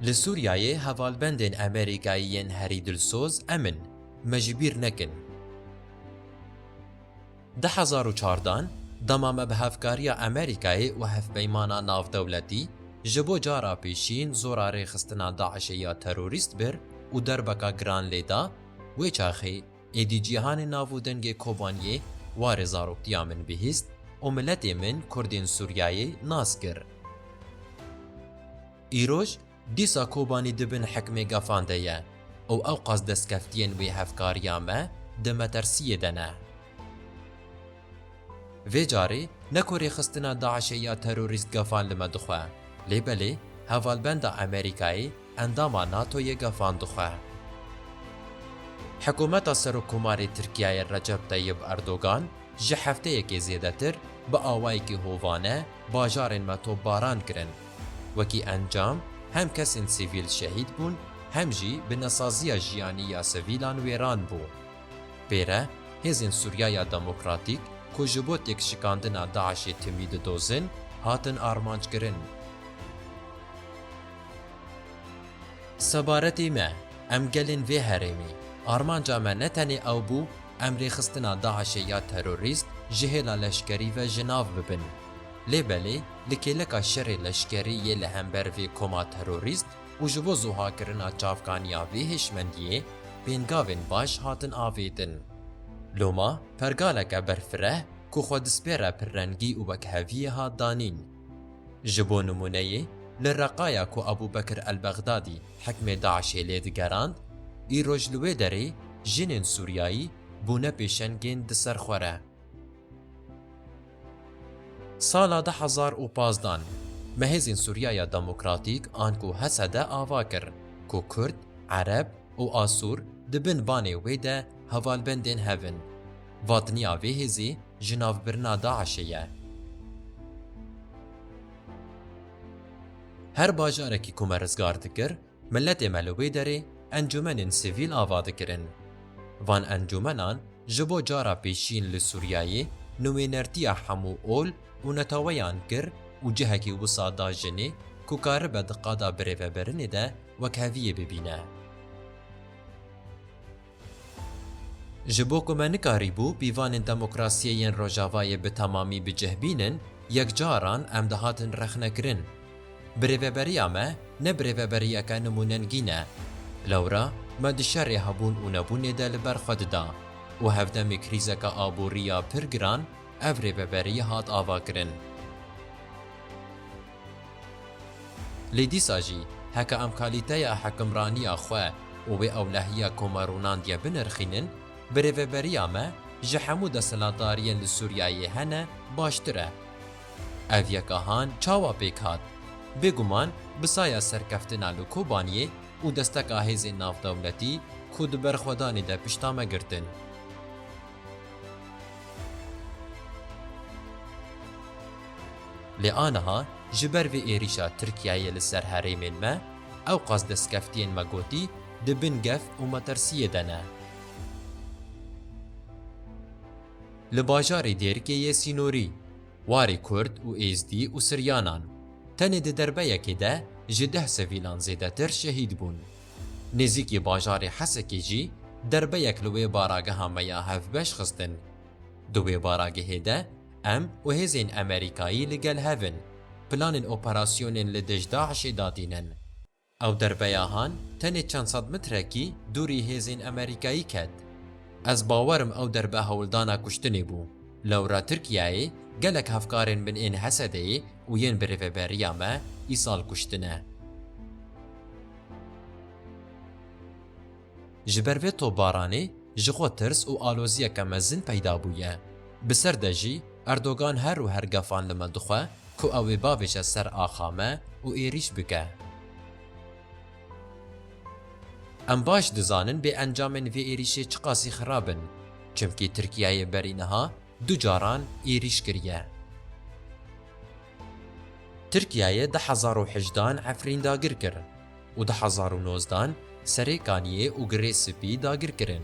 Li Sûriyeyê hevalbendên Amerîkayî yên herî dilsoz em in, me ji bîr nekin. Di hezar û çardan, dema me bi hevkariya Amerîkayê û hevpeymana navdewletî ji bo cara pêşîn zora rêxistina DAIŞ'ê ya terorîst bir û derbeka giran lê da, wê çaxê, Êdî cîhanê nav û dengê Kobaniyê warê zaroktiya min bihîst û miletê min Kurdên Sûriyayê nas kir. Îroj, dîsa Kobanî di bin hikmê gefan de ye û ewqas destkeftiyên wê hevkariya me di metersiyê de ne. Vê carê ne ku rêxistina DAIŞ'ê ya terorîst gefan li me dixwe, lê belê hevalbenda Amerîkayê, endama NATO'yê gefan dixwe. Hikûmeta Serokkomarê Tirkiyeyê Recep Tayyib Erdogan ji hefteyekê zêdetir bi awayekî hovane bajarên me topbaran kirin. Wekî encam hem kesên sivîl şehîd bûn hem jî binesaziya jiyanî ya sivîlan wêran bû. Pê re hêzên Sûriyaya Demokratîk ku ji bo têkşikandina DAIŞ'ê timî didozin, hatin armanckirin. Sebaretê me, em gelên vê herêmê, armanca me ne tenê ew bû em rêxistina DAIŞ'ê ya terorîst ji hêla leşkerî ve ji nav bibin. Lê belê li kêleka şerê leşkerî yê li hember vê koma terorîst û ji bo zuhakirina çavkaniya vê hêşmendiyê pêngavên baş hatin avêtin. Loma pergaleke berfireh ku xwe dispêre pirrengî û wekheviyê hat danîn. Ji bo nimûneyê li Reqaya ku Ebûbekir El-Bexdadî hikmê DAIŞ'ê lê digerand, îroj li wê derê jinên sûriyayî bûne pêşengên di ser xwe re. Sala du hezar û pazdeh de Mehêzên Sûriyaya Demokratîk an ku HSD ava kir ku Kurd, Ereb û Asûr di bin banê wê de hevalbendên hev in. Vatiniya vê hêzê ji navbirina DAIŞ'ê ye. Her bajarekî ku me rizgar dikir, Miletê me li wê derê encûmenên sivîl ava dikirin. Van encûmenan ji bo cara pêşîn li Sûriyeyê nuwênertiya hemû ol û netaweyan kir û cihekî wisa da jinê ku karibe di qada birêvebirinê de wekheviyê bibîne. Ji bo ku me nikarîbû pîvanên demokrasiyê yên Rojavayê bi temamî bicihbînin, yekcaran em dihatin rexnekirin. Bi rêveberiya me ne bi rêveberiyeke nimûnengî ne. Lewra me di şerê hebûn û nebûnê de li ber xwe dida û hevdemî krîzeke aborî ya pir giran ev rêveberî hat avakirin. Lê dîsa jî heke em kalîteya hikimraniya xwe û wê ewlehiya Komarûnandiye binirxînin, bi rêveberiya me ji hemû desthilatdariyên li Sûriyeyê hene baştir e. Ev yeka han çawa pêk hat? Bêguman bi saya serkeftina li Kobaniyê û desteka hêzên navdewletî ku di berxwedanê de pişta me girtin. Lê aniha ji ber vê êrîşa Tirkiyeyê li ser herêmên me, ewqas destkeftiyên me gotî di bin gef û metirsiyê de ne. Li bajarê Dêrikê yê sînorî, warê Kurd û Êzdî û Siryanan, tenê di derbeyekê de ji deh sivîlan zêdetir şehîd bûn. Nêzîkî bajarê Hesekê jî derbeyek li wê barageha me ya hevbeş xistin. Di wê baragehê de em û hêzên Emerîkayî li gel hev in, planên operasyonên li dij DAIŞ'ê datînin. Ew derbeya han tenê çend sed mitrekî dûrî hêzên Emerîkayî ket. Ez bawer im ew derbe hewldana kuştinê bû. Lewra Tirkiyeyê gelek hevkarên min ên Hesedeyê û yên bi rêveberiya me îsal kuştine. Ji ber vê topbaranê ji xwe tirs û aloziyeke mezin peyda bûye. Bi ser de jî Erdogan her û her gefan li me dixwe ku ew ê bavêje ser axa me û êrîş bike. Em baş dizanin bêencamên vê êrîşê çiqasî xirab in, çimkî Tirkiyeyê berî niha du caran êrîş kiriye. Tirkiyeyê di hezar û hejdeh an Efrîn dagir kir û di hezar û nozdeh an Serê Kaniyê û Girê Spî dagir kirin.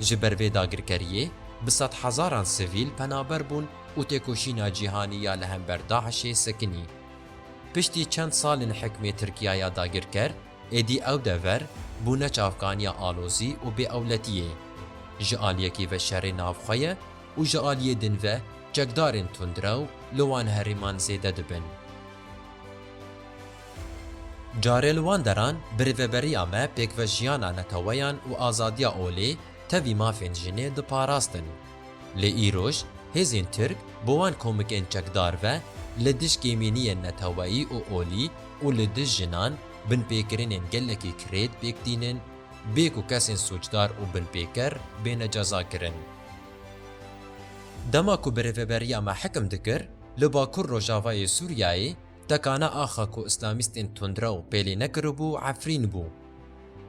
Ji ber vê dagirkeriyê bi sedhezaran sivîl penaber bûn û têkoşîna cîhanî ya li hember DAIŞ'ê sekinî. Piştî çend sal in hikmê Tirkiyeya dagirker êdî ew dever bûne çavkaniya alozî û bêewletiyê. Ji aliyekî ve şerê navxwe ye û ji aliyê din ve çekdarên tundrew li wan herêman zêde dibin. Carê li wan deran bi rêveberiya me pêkve jiyana neteweyan û azadiya olê tevî mafên jinê diparastin. Lê îroj hêzên tirk bi wan komikên çekdar ve li dij kêmîniyên neteweyî û olî û li dij jinan binpêkirinên gelekî kirêt pêk tînin bê ku kesên sûcdar û binpêker bêne cezakirin. Dema ku bi rêveberiya me hikim dikir, li bakur rojavayê Sûriyeyê tekana axa ku îslamîstên tundrew pêlê nekiribû Efrîn bû.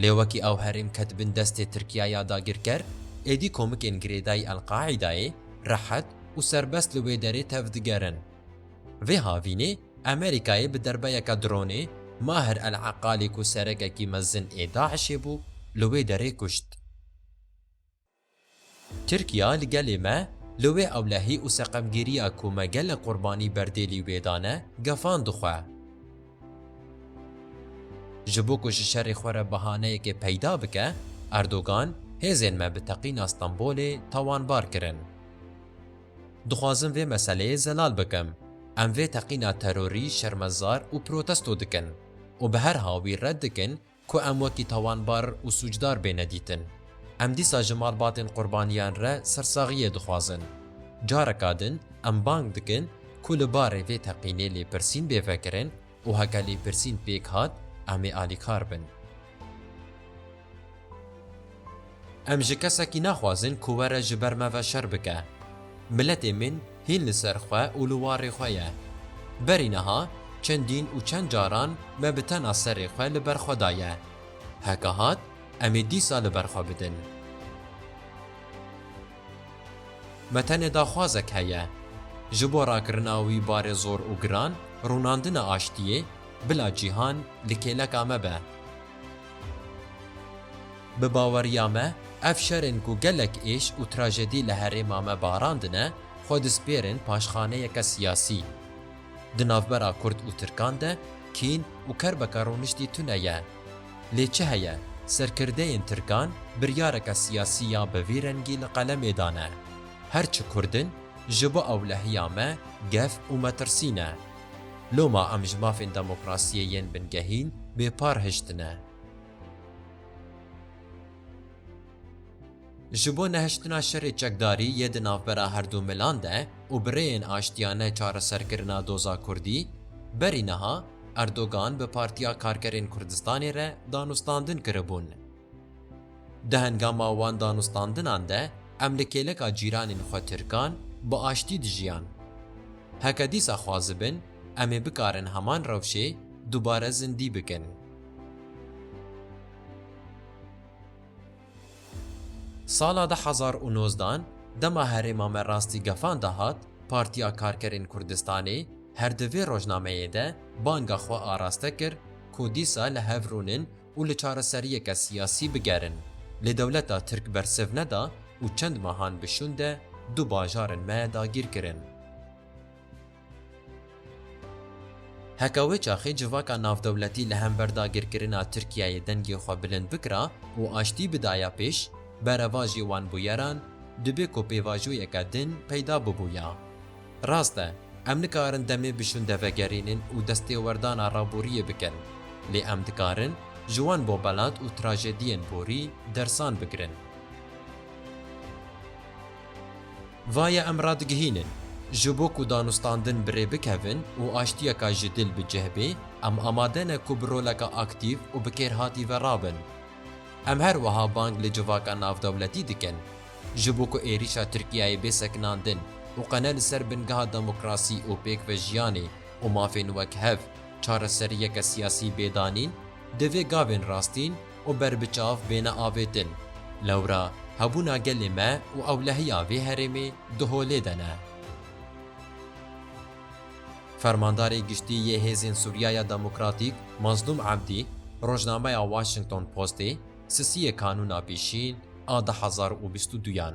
Lê wekî ew herêm ket bin destê Tirkiye ya dagirker, êdî komikên girêdayî El-Qaîdayê rehet û serbest li wê derê tevdigerin. Vê havînê Amerîkayê bi derbeyeke dronê Maher El-Eqalî ku serekekî mezin ê DAIŞ'ê bû, li wê derê kuşt. Tirkiya li gelê me, li wê ewlehî û seqemgîriya ku me gelek qurbanî berdêlî wê dane, gefan dixwe. Ji bo ku ji şerê xwe re bahaneyekê peyda bike, Erdogan hêzên me bi teqîna Stenbolê tawanbar kirin. Dixwazim vê meseleyê zelal bikim. Em vê teqîna terorî şermezar û protesto dikin û bi her hawî red dikin Ku em wekî tawanbar û sûcdar bêne dîtin. Em dîsa ji malbatên qurbaniyan re sersaxiyê dixwazin. Careka din em bang dikin ku li barê vê teqînê lêpirsîn bê vekirin û heke lêpirsîn pêk hat, em ê alîkar bin. Em ji kesekî naxwazin ku were ji ber me ve şer bike. Miletê min hîn li ser xwe û li warê xwe ye. Berî niha çendîn û çend caran me bi tena serê xwe li ber xwe daye. Heke hat, em ê dîsa li ber xwe bidin. Me tenê daxwazek heye. Ji bo rakirina wî barê zor û giran, rûnandina aştiyê, bila cîhan li kêleka me be. Bi baweriya me, ev şerên ku gelek êş û trajedî li herêma me barandine, xwe dispêrin paşxaneyeke siyasî. Di navbera Kurd û Tirkan de kîn û kerbeke rûniştî tune ye. Lê çi heye, serkirdeyên Tirkan biryareke siyasî ya bi vî rengî li qelemê dane, Her çi Kurd in, ji bo ewlehiya me gef û metirsî ne. Loma em ji mafên demokrasiyê yên bingehîn bêpar hiştine. Ji bo nehiştina şerê çekdarî yê di navbera herdu milan de û bi rêyên aştiyane çareserkirina doza kurdî, berî niha Erdogan bi Partiya Karkerên Kurdistanê re danûstandin kiribûn. Di hengama wan danûstandinan de em li kêleka cîranên xwe tirkan bi aştî dijiyan. Heke dîsa xwazibin em ê bikarin heman rewşê dubare zindî bikin. Sala du hezar û nozdan dema herêma me rastî gefan de hat, Partiya Karkerên Kurdistanê her di vê rojnameyê de banga xwe araste kir ku dîsa li hev rûnin û li çareseriyeke siyasî bigerin. Lê dewleta Tirk bersiv neda û çend mehan bi şûn de du bajarên me dagîr kirin. Heke wê çaxê civaka navdewletî li hember dagîrkirina Tirkiyeyê dengê xwe bilind bikira û aştî bidaya pêş, berevajê wan bûyeran dibê ku pêvajoyeke din peyda bibûya. Rast e, em nikarin demê bi şûnde vegerînin û destêwerdana raboriyê bikin, lê em dikarin ji wan bobelat û trajediyên borî dersan bigirin. Va ye em radigihînin, ji bo ku danûstandin bi rê bikevin û aştiyeka ji dil bi cih bê, em amade ne ku bi roleka aktîv û bi kêrhatî ve rabin. Em her wiha bang li civaka navdewletî dikin, Ji bo ku êrîşa Tirkiyeyê bê sekinandin û qene li ser bingeha demokrasî û pêkvejiyanê û mafên wek hev, çareseriyeke siyasî bê danîn, divê gavên rastîn û berbiçav bêne avêtin. Lewra hebûna gelê me û ewlehiya vê herêmê di holê de ne. Fermandarê Giştî yê Hêzên Sûriya ya Demokratîk Mazlûm Ebdî rojnameya Washington Postê, Sisiyê Kanûna Pêşîn a du hezar û bîst û duyan.